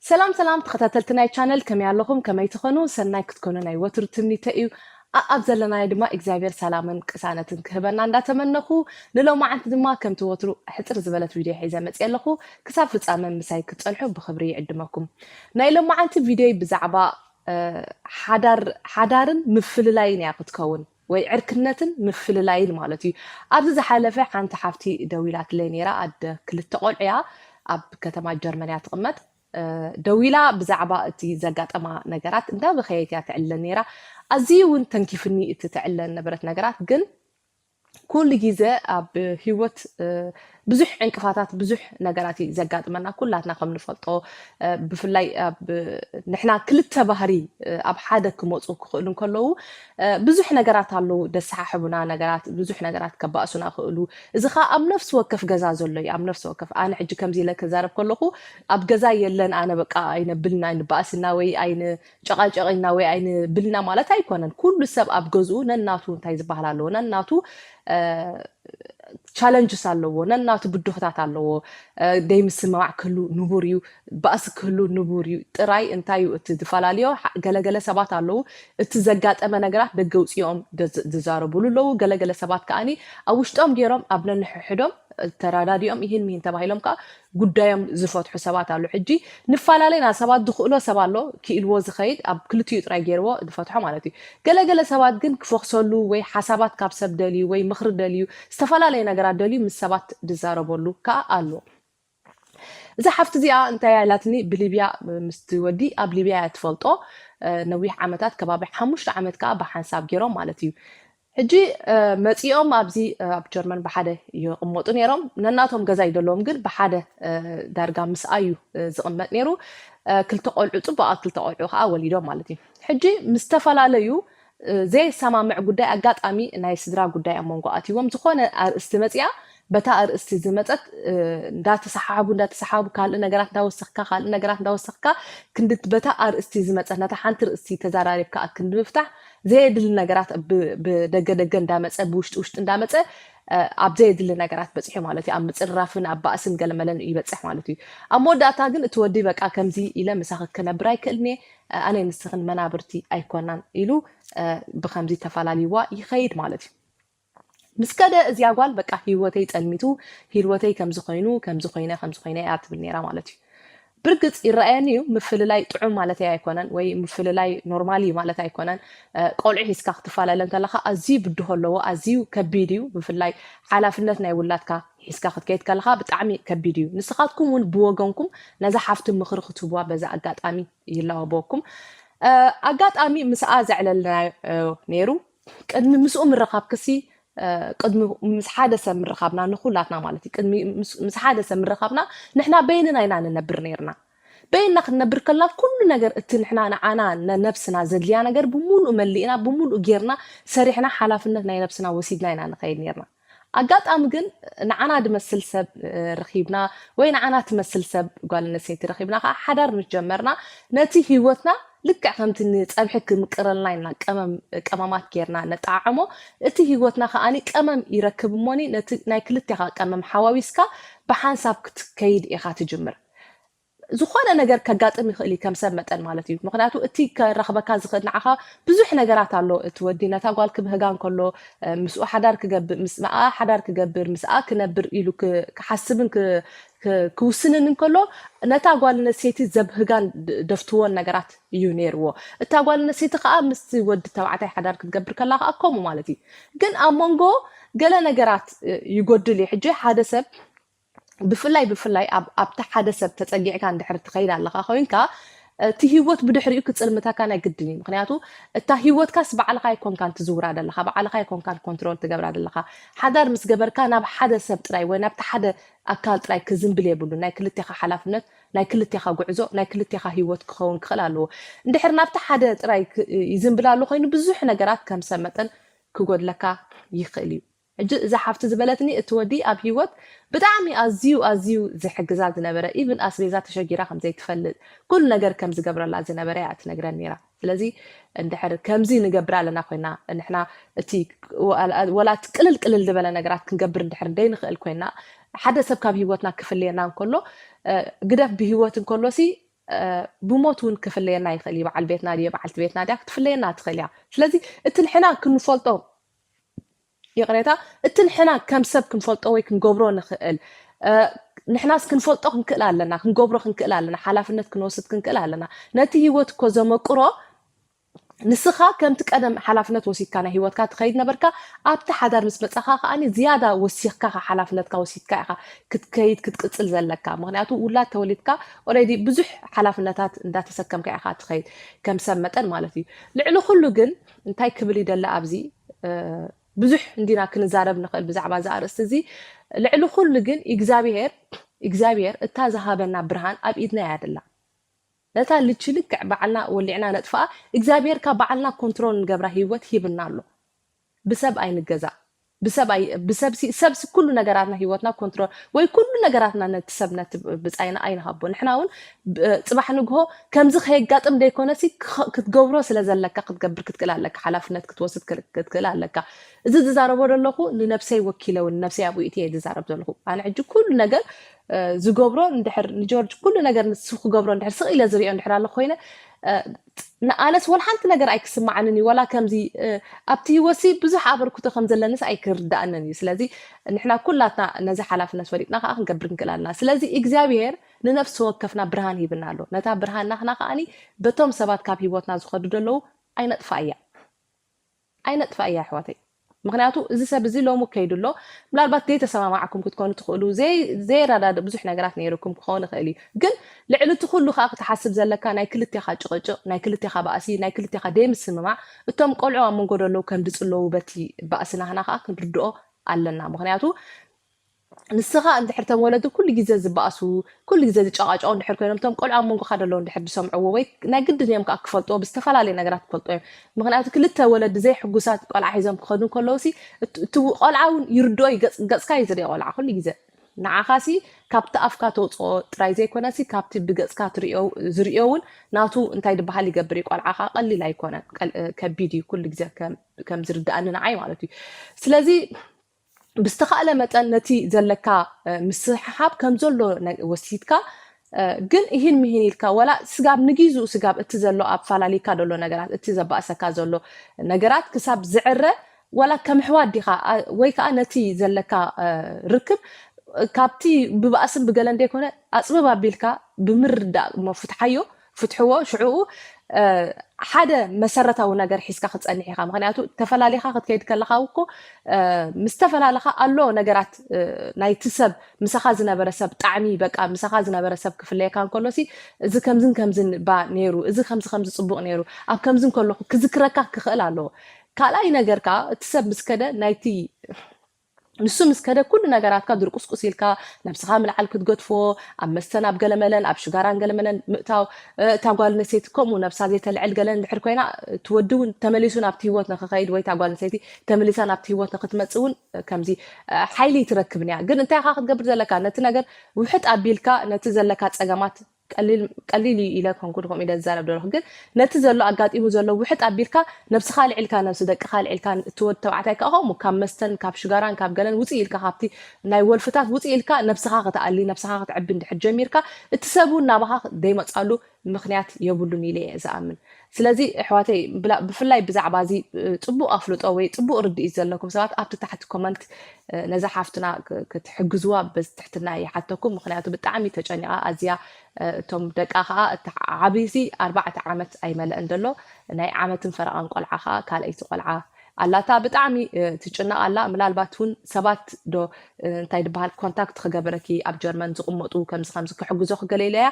ሰላም ሰላም ተኸታተልቲ ናይ ቻነል ከመይ ኣለኹም ከመይ ትኾኑ ሰናይ ክትኮኑ ናይ ወትሩ ትምኒተ እዩ ኣኣብ ዘለናዮ ድማ እግዚኣብሔር ሰላምን ቅሳነትን ክህበና እንዳተመነኹ ንሎማዓንቲ ድማ ከምቲ ወትሩ ሕፅር ዝበለት ቪድዮ ሒዘ መፅየ ኣለኹ ክሳብ ፍፃመ ምሳይ ክትፀንሑ ብኽብሪ ይዕድመኩም ናይ ሎማዓንቲ ቪድዮይ ብዛዕባ ሓዳር ሓዳርን ምፍልላይን እያ ክትከውን ወይ ዕርክነትን ምፍልላይን ማለት እዩ። ኣብዚ ዝሓለፈ ሓንቲ ሓፍቲ ደዊላትለይ ነይራ፣ ኣደ ክልተ ቆልዑ እያ፣ ኣብ ከተማ ጀርመን እያ ትቕመጥ። ደዊላ ብዛዕባ እቲ ዘጋጠማ ነገራት እንዳበኸየት እያ ተዕልለኒ ነይራ። ኣዝዩ እውን ተንኪፉኒ እቲ ተዕልለኒ ነበረት ነገራት፣ ግን ኩሉ ግዜ ኣብ ህይወት ብዙሕ ዕንቅፋታት ብዙሕ ነገራት እዩ ዘጋጥመና ኩላትና ከም ንፈልጦ ብፍላይ ንሕና ክልተ ባህሪ ኣብ ሓደ ክመፁ ክኽእሉ እንከለዉ ብዙሕ ነገራት ኣለዉ ደሰሓሕቡና ነገራት ብዙሕ ነገራት ከባእሱና ክእሉ እዚ ከዓ ኣብ ነፍሲ ወከፍ ገዛ ዘሎ እዩ ኣብ ነፍሲ ወከፍ ኣነ ሕጂ ከምዚ ኢለ ክዛረብ ከለኹ ኣብ ገዛ የለን ኣነ በቃ ኣይነብልና ኣይንባእስና ወይ ጨቓጨቕ ኢልና ወይ ኣይንብልና ማለት ኣይኮነን። ኩሉ ሰብ ኣብ ገዝኡ ነናቱ እንታይ ዝበሃል ኣለዎ፣ ነናቱ ቻለንጅስ ኣለዎ፣ ነናቱ ብድሆታት ኣለዎ። ዘይምስምማዕ ክህሉ ንቡር እዩ፣ ባእሲ ክህሉ ንቡር እዩ። ጥራይ እንታይ እዩ እቲ ዝፈላለዮ፣ ገለገለ ሰባት ኣለዉ እቲ ዘጋጠመ ነገራት ደገ ውፅኦም ዝዛረቡሉ ኣለዉ፣ ገለገለ ሰባት ከዓኒ ኣብ ውሽጦም ገይሮም ኣብ ነንሕሕዶም ተረዳዲኦም ይህን ምሂን ተባሂሎም ከዓ ጉዳዮም ዝፈትሑ ሰባት ኣሉ ሕጂ ንፋላለ ኢና ሰባት ዝኽእሎ ሰብ ኣሎ ኪኢልዎ ዝኸይድ ኣብ ክልቲኡ ጥራይ ጌርዎ ዝፈትሖ ማለት እዩ ገለ ገለ ሰባት ግን ክፎኽሰሉ ወይ ሓሳባት ካብ ሰብ ደልዩ ወይ ምኽሪ ደልዩ ዝተፈላለየ ነገራት ደልዩ ምስ ሰባት ዝዛረበሉ ከኣ ኣሎ እዛ ሓፍቲ እዚኣ እንታይ እያ ኢላትኒ ብሊብያ ምስቲ ወዲ ኣብ ሊብያ እያ ትፈልጦ ነዊሕ ዓመታት ከባቢ ሓሙሽተ ዓመት ከኣ ብሓንሳብ ጌሮም ማለት እዩ ሕጂ መጺኦም ኣብዚ ኣብ ጀርመን ብሓደ ይቕመጡ ነይሮም። ነናቶም ገዛ ይደለዎም ግን ብሓደ ዳርጋ ምስኣዩ ዝቕመጥ ነይሩ። ክልተ ቆልዑ ጽቡቓት ክልተ ቆልዑ ከዓ ወሊዶም ማለት እዩ። ሕጂ ምስ ተፈላለዩ ዘየሰማምዕ ጉዳይ ኣጋጣሚ ናይ ስድራ ጉዳይ ኣብ መንጎ ኣትይዎም ዝኾነ ኣርእስቲ መጺኣ በታ ኣርእስቲ ዝመጸት እንዳተሰሓሓቡ እንዳተሰሓሓቡ ካልእ ነገራት እንዳወሰኽካ ካልእ ነገራት እንዳወሰኽካ ክንዲ በታ ኣርእስቲ ዝመጸት ነታ ሓንቲ ርእስቲ ተዘራሪብካ ኣብ ክንዲ ምፍታሕ ዘየድሊ ነገራት ብደገ ደገ እንዳመጸ ብውሽጢ ውሽጢ እንዳመጸ ኣብ ዘየድሊ ነገራት በፂሑ ማለት እዩ ኣብ ምፅርራፍን ኣብ ባእስን ገለመለን እዩ ይበፅሕ ማለት እዩ ኣብ መወዳእታ ግን እቲ ወዲ በቃ ከምዚ ኢለ ምሳኺ ክነብር ኣይክእልን እየ ኣነ ንስኽን መናብርቲ ኣይኮናን ኢሉ ብከምዚ ተፈላልይዋ ይኸይድ ማለት እዩ ምስ ከደ እዚኣ ጓል በቃ ሂወተይ ጸልሚቱ ሂልወተይ ከምዚ ኮይኑ ከምዚ ኮይነ ከምዚ ኮይነ እያ ትብል ነይራ ማለት እዩ ብርግጽ ይረኣየኒ እዩ ምፍልላይ ጥዑም ማለተይ ኣይኮነን ወይ ምፍልላይ ኖርማል እዩ ማለት ኣይኮነን ቆልዑ ሒዝካ ክትፈላለ እንከለካ ኣዝዩ ብድሆ ኣለዎ ኣዝዩ ከቢድ እዩ ብፍላይ ሓላፍነት ናይ ውላድካ ሒዝካ ክትከይድ ከለካ ብጣዕሚ ከቢድ እዩ ንስኻትኩም እውን ብወገንኩም ነዛ ሓፍቲ ምኽሪ ክትህቡዋ በዛ ኣጋጣሚ ይላወበኩም ኣጋጣሚ ምስኣ ዘዕለልና ነይሩ ቅድሚ ምስኡ ምርኻብ ክሲ ቅድሚ ምስ ሓደ ሰብ ምርኻብና ንኩላትና ማለት እዩ ቅድሚ ምስ ሓደ ሰብ ምርኻብና ንሕና በይንና ኢና ንነብር ነርና በይንና ክንነብር ከልና ኩሉ ነገር እቲ ንሕና ንዓና ነብስና ዘድልያ ነገር ብምሉእ መሊእና ብምሉእ ጌርና ሰሪሕና ሓላፍነት ናይ ነብስና ወሲድና ኢና ንኸይድ ነርና ኣጋጣሚ ግን ንዓና ድመስል ሰብ ረኺብና ወይ ንዓና ትመስል ሰብ ጓል ኣነሰይቲ ረኺብና ከኣ ሓዳር ምስ ጀመርና ነቲ ሂወትና ልክዕ ከምቲ ንጸብሒ ክምቅረልና ኢልና ቀመም ቀማማት ጌርና ነጠዓዕሞ እቲ ሂወትና ከኣ ቀመም ይረክብ እሞኒ ነቲ ናይ ክልቴኻ ቀመም ሓዋዊስካ ብሓንሳብ ክትከይድ ኢኻ ትጅምር ዝኾነ ነገር ከጋጥም ይኽእል እዩ ከም ሰብ መጠን ማለት እዩ ምክንያቱ እቲ ከራኽበካ ዝኽእል ንዓኻ ብዙሕ ነገራት ኣሎ እቲ ወዲ ነታ ጓል ክብህጋ እንከሎ ምስኡ ሓዳር ክገብር ምስኣ ሓዳር ክገብር ምስኣ ክነብር ኢሉ ክሓስብን ክውስንን እንከሎ ነታ ጓል ነሴይቲ ዘብህጋን ደፍትዎን ነገራት እዩ ነይርዎ እታ ጓል ነሴይቲ ከዓ ምስ ወዲ ተባዕታይ ሓዳር ክትገብር ከላ ከዓ ከምኡ ማለት እዩ ግን ኣብ መንጎ ገለ ነገራት ይጎድል እዩ ሕጂ ሓደ ሰብ ብፍላይ ብፍላይ ኣብ ኣብቲ ሓደ ሰብ ተጸጊዕካ እንድሕር ትኸይድ ኣለኻ ኮይንካ እቲ ህይወት ብድሕሪኡ ክጽልምተካ ናይ ግድን እዩ ምክንያቱ እታ ህይወትካስ ባዕልኻ ኣይኮንካን ትዝውራ ደለኻ ባዕልኻ ኣይኮንካን ኮንትሮል ትገብራ ደለኻ ሓዳር ምስ ገበርካ ናብ ሓደ ሰብ ጥራይ ወይ ናብቲ ሓደ ኣካል ጥራይ ክዝንብል የብሉ ናይ ክልቴኻ ሓላፍነት ናይ ክልቴኻ ጉዕዞ ናይ ክልቴኻ ህይወት ክኸውን ክኽእል ኣለዎ እንድሕር ናብቲ ሓደ ጥራይ ይዝንብል ኣሎ ኮይኑ ብዙሕ ነገራት ከም ሰብ መጠን ክጎድለካ ይኽእል እዩ ሕጂ እዛ ሓፍቲ ዝበለትኒ እቲ ወዲ ኣብ ሂወት ብጣዕሚ ኣዝዩ ኣዝዩ ዝሕግዛ ዝነበረ ኢቭን ኣስቤዛ ተሸጊራ ከም ዘይትፈልጥ ኩሉ ነገር ከም ዝገብረላ ዝነበረ እያ ትነግረኒ ኔራ ስለዚ እንድሕር ከምዚ ንገብር ኣለና ኮይና ንሕና እቲ ወላ እቲ ቅልል ቅልል ዝበለ ነገራት ክንገብር እንድሕር ደይንኽእል ኮይና ሓደ ሰብ ካብ ሂወትና ክፍለየና እንከሎ ግደፍ ብሂወት እንከሎ ሲ ብሞት እውን ክፍለየና ይኽእል እዩ በዓል ቤትና ድየ በዓልቲ ቤትና ድያ ክትፍለየና ትኽእል እያ ስለዚ እቲ ንሕና ክንፈልጦ ይቕሬታ እቲ ንሕና ከም ሰብ ክንፈልጦ ወይ ክንገብሮ ንኽእል ንሕናስ ክንፈልጦ ክንክእል ኣለና ክንገብሮ ክንክእል ኣለና ሓላፍነት ክንወስድ ክንክእል ኣለና ነቲ ህይወት እኮ ዘመቅሮ ንስኻ ከምቲ ቀደም ሓላፍነት ወሲድካ ናይ ሂወትካ ትኸይድ ነበርካ ኣብቲ ሓዳር ምስ መፃኻ ከዓ ዝያዳ ወሲኽካ ካ ሓላፍነትካ ወሲድካ ኢኻ ክትከይድ ክትቅፅል ዘለካ ምክንያቱ ውላድ ተወሊድካ ኦረዲ ብዙሕ ሓላፍነታት እንዳተሰከምካ ኢኻ ትኸይድ ከም ሰብ መጠን ማለት እዩ ልዕሊ ኩሉ ግን እንታይ ክብል ይደሊ ኣብዚ ብዙሕ እንዲና ክንዛረብ ንኽእል ብዛዕባ እዚ ኣርእስቲ እዚ ልዕሊ ኩሉ ግን እግዚኣብሄር እግዚኣብሄር እታ ዝሃበና ብርሃን ኣብ ኢድና እያ ደላ ነታ ልቺ ልክዕ በዓልና ወሊዕና ነጥፋኣ እግዚኣብሄርካ በዓልና ኮንትሮል ንገብራ ህይወት ሂብና ኣሎ ብሰብ ኣይንገዛ ብሰብ ኣይ ብሰብሲ ሰብሲ ኩሉ ነገራትና ሂወትና ኮንትሮል ወይ ኩሉ ነገራትና ነቲ ሰብ ነቲ ብጻይና ኣይንሃቦ ንሕና እውን ጽባሕ ንግሆ ከምዚ ከየጋጥም ዘይኮነሲ ክትገብሮ ስለ ዘለካ ክትገብር ክትክእል ኣለካ ሓላፍነት ክትወስድ ክትክእል ኣለካ እዚ ዝዛረቦ ዘለኹ ንነብሰይ ወኪለ እውን ነብሰይ ኣብኡ ኢትየ ዝዛረብ ዘለኹ ኣነ ሕጂ ኩሉ ነገር ዝገብሮ እንድሕር ንጆርጅ ኩሉ ነገር ንሱ ክገብሮ እንድሕር ስቕ ኢለ ዝሪኦ እንድሕር ኣሎ ኮይነ ንኣነስ ወላ ሓንቲ ነገር ኣይክስምዓንን እዩ ወላ ከምዚ ኣብቲ ህይወትሲ ብዙሕ ኣበርክቶ ከም ዘለኒስ ኣይክርዳእንን እዩ ስለዚ ንሕና ኩላትና ነዚ ሓላፍነት ፈሊጥና ከዓ ክንገብር ክንክእል ኣለና ስለዚ እግዚኣብሄር ንነፍሲ ወከፍና ብርሃን ሂብና ኣሎ ነታ ብርሃን ናትና ከዓኒ በቶም ሰባት ካብ ህይወትና ዝኸዱ ዘለዉ ኣይነጥፋ እያ ኣይነጥፍኣያ ኣሕዋተይ ምክንያቱ እዚ ሰብ እዚ ሎሚ ከይዱ ኣሎ ምናልባት ዘይተሰማማዕኩም ክትኮኑ ትክእሉ ዘይረዳድእ ብዙሕ ነገራት ነይሩኩም ክኸውን ይክእል እዩ ግን ልዕሊ እቲ ኩሉ ከዓ ክትሓስብ ዘለካ ናይ ክልቴካ ጭቅጭቅ ናይ ክልቴካ ባእሲ ናይ ክልቴካ ደይምስምማዕ እቶም ቆልዑ ኣብ መንጎ ደለው ከምድጽለዉ በቲ ባእሲ ናህና ከዓ ክንርድኦ ኣለና ምክንያቱ ንስኻ እንድሕር እቶም ወለዲ ኩሉ ግዜ ዝበኣሱ ኩሉ ግዜ ዝጨቓጨቑ እንድሕር ኮይኖም እቶም ቆልዑ ኣብ መንጎኻ ዘለዉ እንድሕር ዝሰምዕዎ ወይ ናይ ግድን እዮም ከኣ ክፈልጥዎ ብዝተፈላለየ ነገራት ክፈልጥዎ እዮም ምኽንያቱ ክልተ ወለዲ ዘይሕጉሳት ቆልዓ ሒዞም ክኸዱ ከለውሲ እቲ ቆልዓ እውን ይርድኦ ገጽካ እዩ ዝርኦ ቆልዓ ኩሉ ግዜ ንዓኻሲ ካብቲ ኣፍካ ተውፅኦ ጥራይ ዘይኮነሲ ካብቲ ብገጽካ ዝርኦ እውን ናቱ እንታይ ድበሃል ይገብር እዩ ቆልዓ ከዓ ቀሊል ኣይኮነን ከቢድ እዩ ኩሉ ግዜ ከም ዝርድኣኒ ንዓይ ማለት እዩ ስለዚ ብዝተኻእለ መጠን ነቲ ዘለካ ምስሕሓብ ከም ዘሎ ወሲድካ ግን እሂን ምሂን ኢልካ ወላ ስጋብ ንጊዙኡ ስጋብ እቲ ዘሎ ኣብ ፋላሊካ ዘሎ ነገራት እቲ ዘባእሰካ ዘሎ ነገራት ክሳብ ዝዕረ ወላ ከም ኣሕዋት ዲኻ ወይ ከዓ ነቲ ዘለካ ርክብ ካብቲ ብባእስን ብገለን ዘይኮነ ኣፅብብ ኣቢልካ ብምርዳእ መፉትሓዮ ፍትሕዎ ሽዑኡ ሓደ መሰረታዊ ነገር ሒዝካ ክትፀንሕ ኢኻ ምክንያቱ ተፈላሊኻ ክትከይድ ከለካ እኮ ምስ ተፈላለኻ ኣሎ ነገራት ናይቲ ሰብ ምሳኻ ዝነበረ ሰብ ጣዕሚ በቃ ምሳኻ ዝነበረ ሰብ ክፍለየካ እንከሎ ሲ እዚ ከምዝን ከምዝን ባ ነይሩ እዚ ከምዚ ከምዚ ፅቡቅ ነይሩ ኣብ ከምዚ እንከለኹ ክዝክረካ ክኽእል ኣለዎ ካልኣይ ነገር ከዓ እቲ ሰብ ምስ ከደ ናይቲ ንሱ ምስ ከደ ኩሉ ነገራትካ ድርቁስቁስ ኢልካ ነብስኻ ምልዓል ክትገድፎ ኣብ መስተን ኣብ ገለመለን ኣብ ሽጋራን ገለመለን ምእታው እታ ጓል ኣንስተይቲ ከምኡ ነብሳ ዘይተልዕል ገለን ድሕር ኮይና እቲ ወዲ እውን ተመሊሱ ናብቲ ህይወት ንክኸይድ ወይ እታ ጓል ኣንስተይቲ ተመሊሳ ናብቲ ህይወት ንክትመጽእ እውን ከምዚ ሓይሊ ትረክብን እያ ግን እንታይ ኢኻ ክትገብር ዘለካ ነቲ ነገር ውሕጥ ኣቢልካ ነቲ ዘለካ ጸገማት ቀሊል ቀሊል እዩ ኢለ ኮንኩ ከምኡ ኢለ ዝዛረብ ደለኹ ግን ነቲ ዘሎ ኣጋጢሙ ዘሎ ውሕጥ ኣቢልካ ነብስኻ ኣልዒልካ ነብሲ ደቅኻ ኣልዒልካ እቲ ወዲ ተባዕታይ ከዓ ከምኡ ካብ መስተን ካብ ሽጋራን ካብ ገለን ውፅእ ኢልካ ካብቲ ናይ ወልፍታት ውፅእ ኢልካ ነብስኻ ክትኣሊ ነብስኻ ክትዕቢ እንድሕር ጀሚርካ እቲ ሰብ እውን ናባኻ ዘይመፅኣሉ ምክንያት የብሉን ኢለ እየ ዝኣምን ስለዚ ኣሕዋተይ ብፍላይ ብዛዕባ እዚ ፅቡቅ ኣፍልጦ ወይ ፅቡቅ ርድኢት ዘለኩም ሰባት ኣብቲ ታሕቲ ኮመንት ነዛ ሓፍትና ክትሕግዝዋ ብትሕትና ይሓተኩም ምክንያቱ ብጣዕሚ ተጨኒቃ ኣዝያ እቶም ደቃ ከዓ እቲ ዓብይሲ ኣርባዕተ ዓመት ኣይመለእን ዘሎ ናይ ዓመትን ፈረቃን ቆልዓ ከዓ ካልኣይቲ ቆልዓ ኣላታ ብጣዕሚ ትጭነቅ ኣላ ምላልባት ውን ሰባት ዶ እንታይ ድበሃል ኮንታክት ክገብረኪ ኣብ ጀርመን ዝቅመጡ ከምዚ ከምዚ ክሕግዞኪ ገለ ኢለያ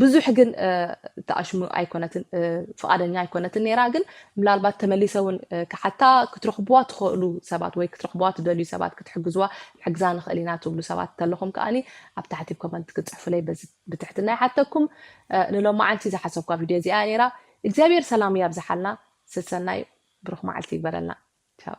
ብዙሕ ግን ተኣሽሙ ኣይኮነትን ፍቃደኛ ኣይኮነትን ነይራ ግን ምላልባት ተመሊሰ ውን ክሓታ ክትረክብዋ ትክእሉ ሰባት ወይ ክትረክብዋ ትደልዩ ሰባት ክትሕግዝዋ ንሕግዛ ንክእል ኢና ትብሉ ሰባት ተለኩም ከኣኒ ኣብ ታሕቲ ኮመንት ክትጽሕፉለይ በዚ ብትሕትና ይሓተኩም ንሎማዓንቲ ዝሓሰብኳ ቪድዮ እዚኣ ነይራ እግዚኣብሔር ሰላሙ ያብዝሓልና ሰሰናዩ ብሩክ መዓልቲ ይግበረልና ቻው።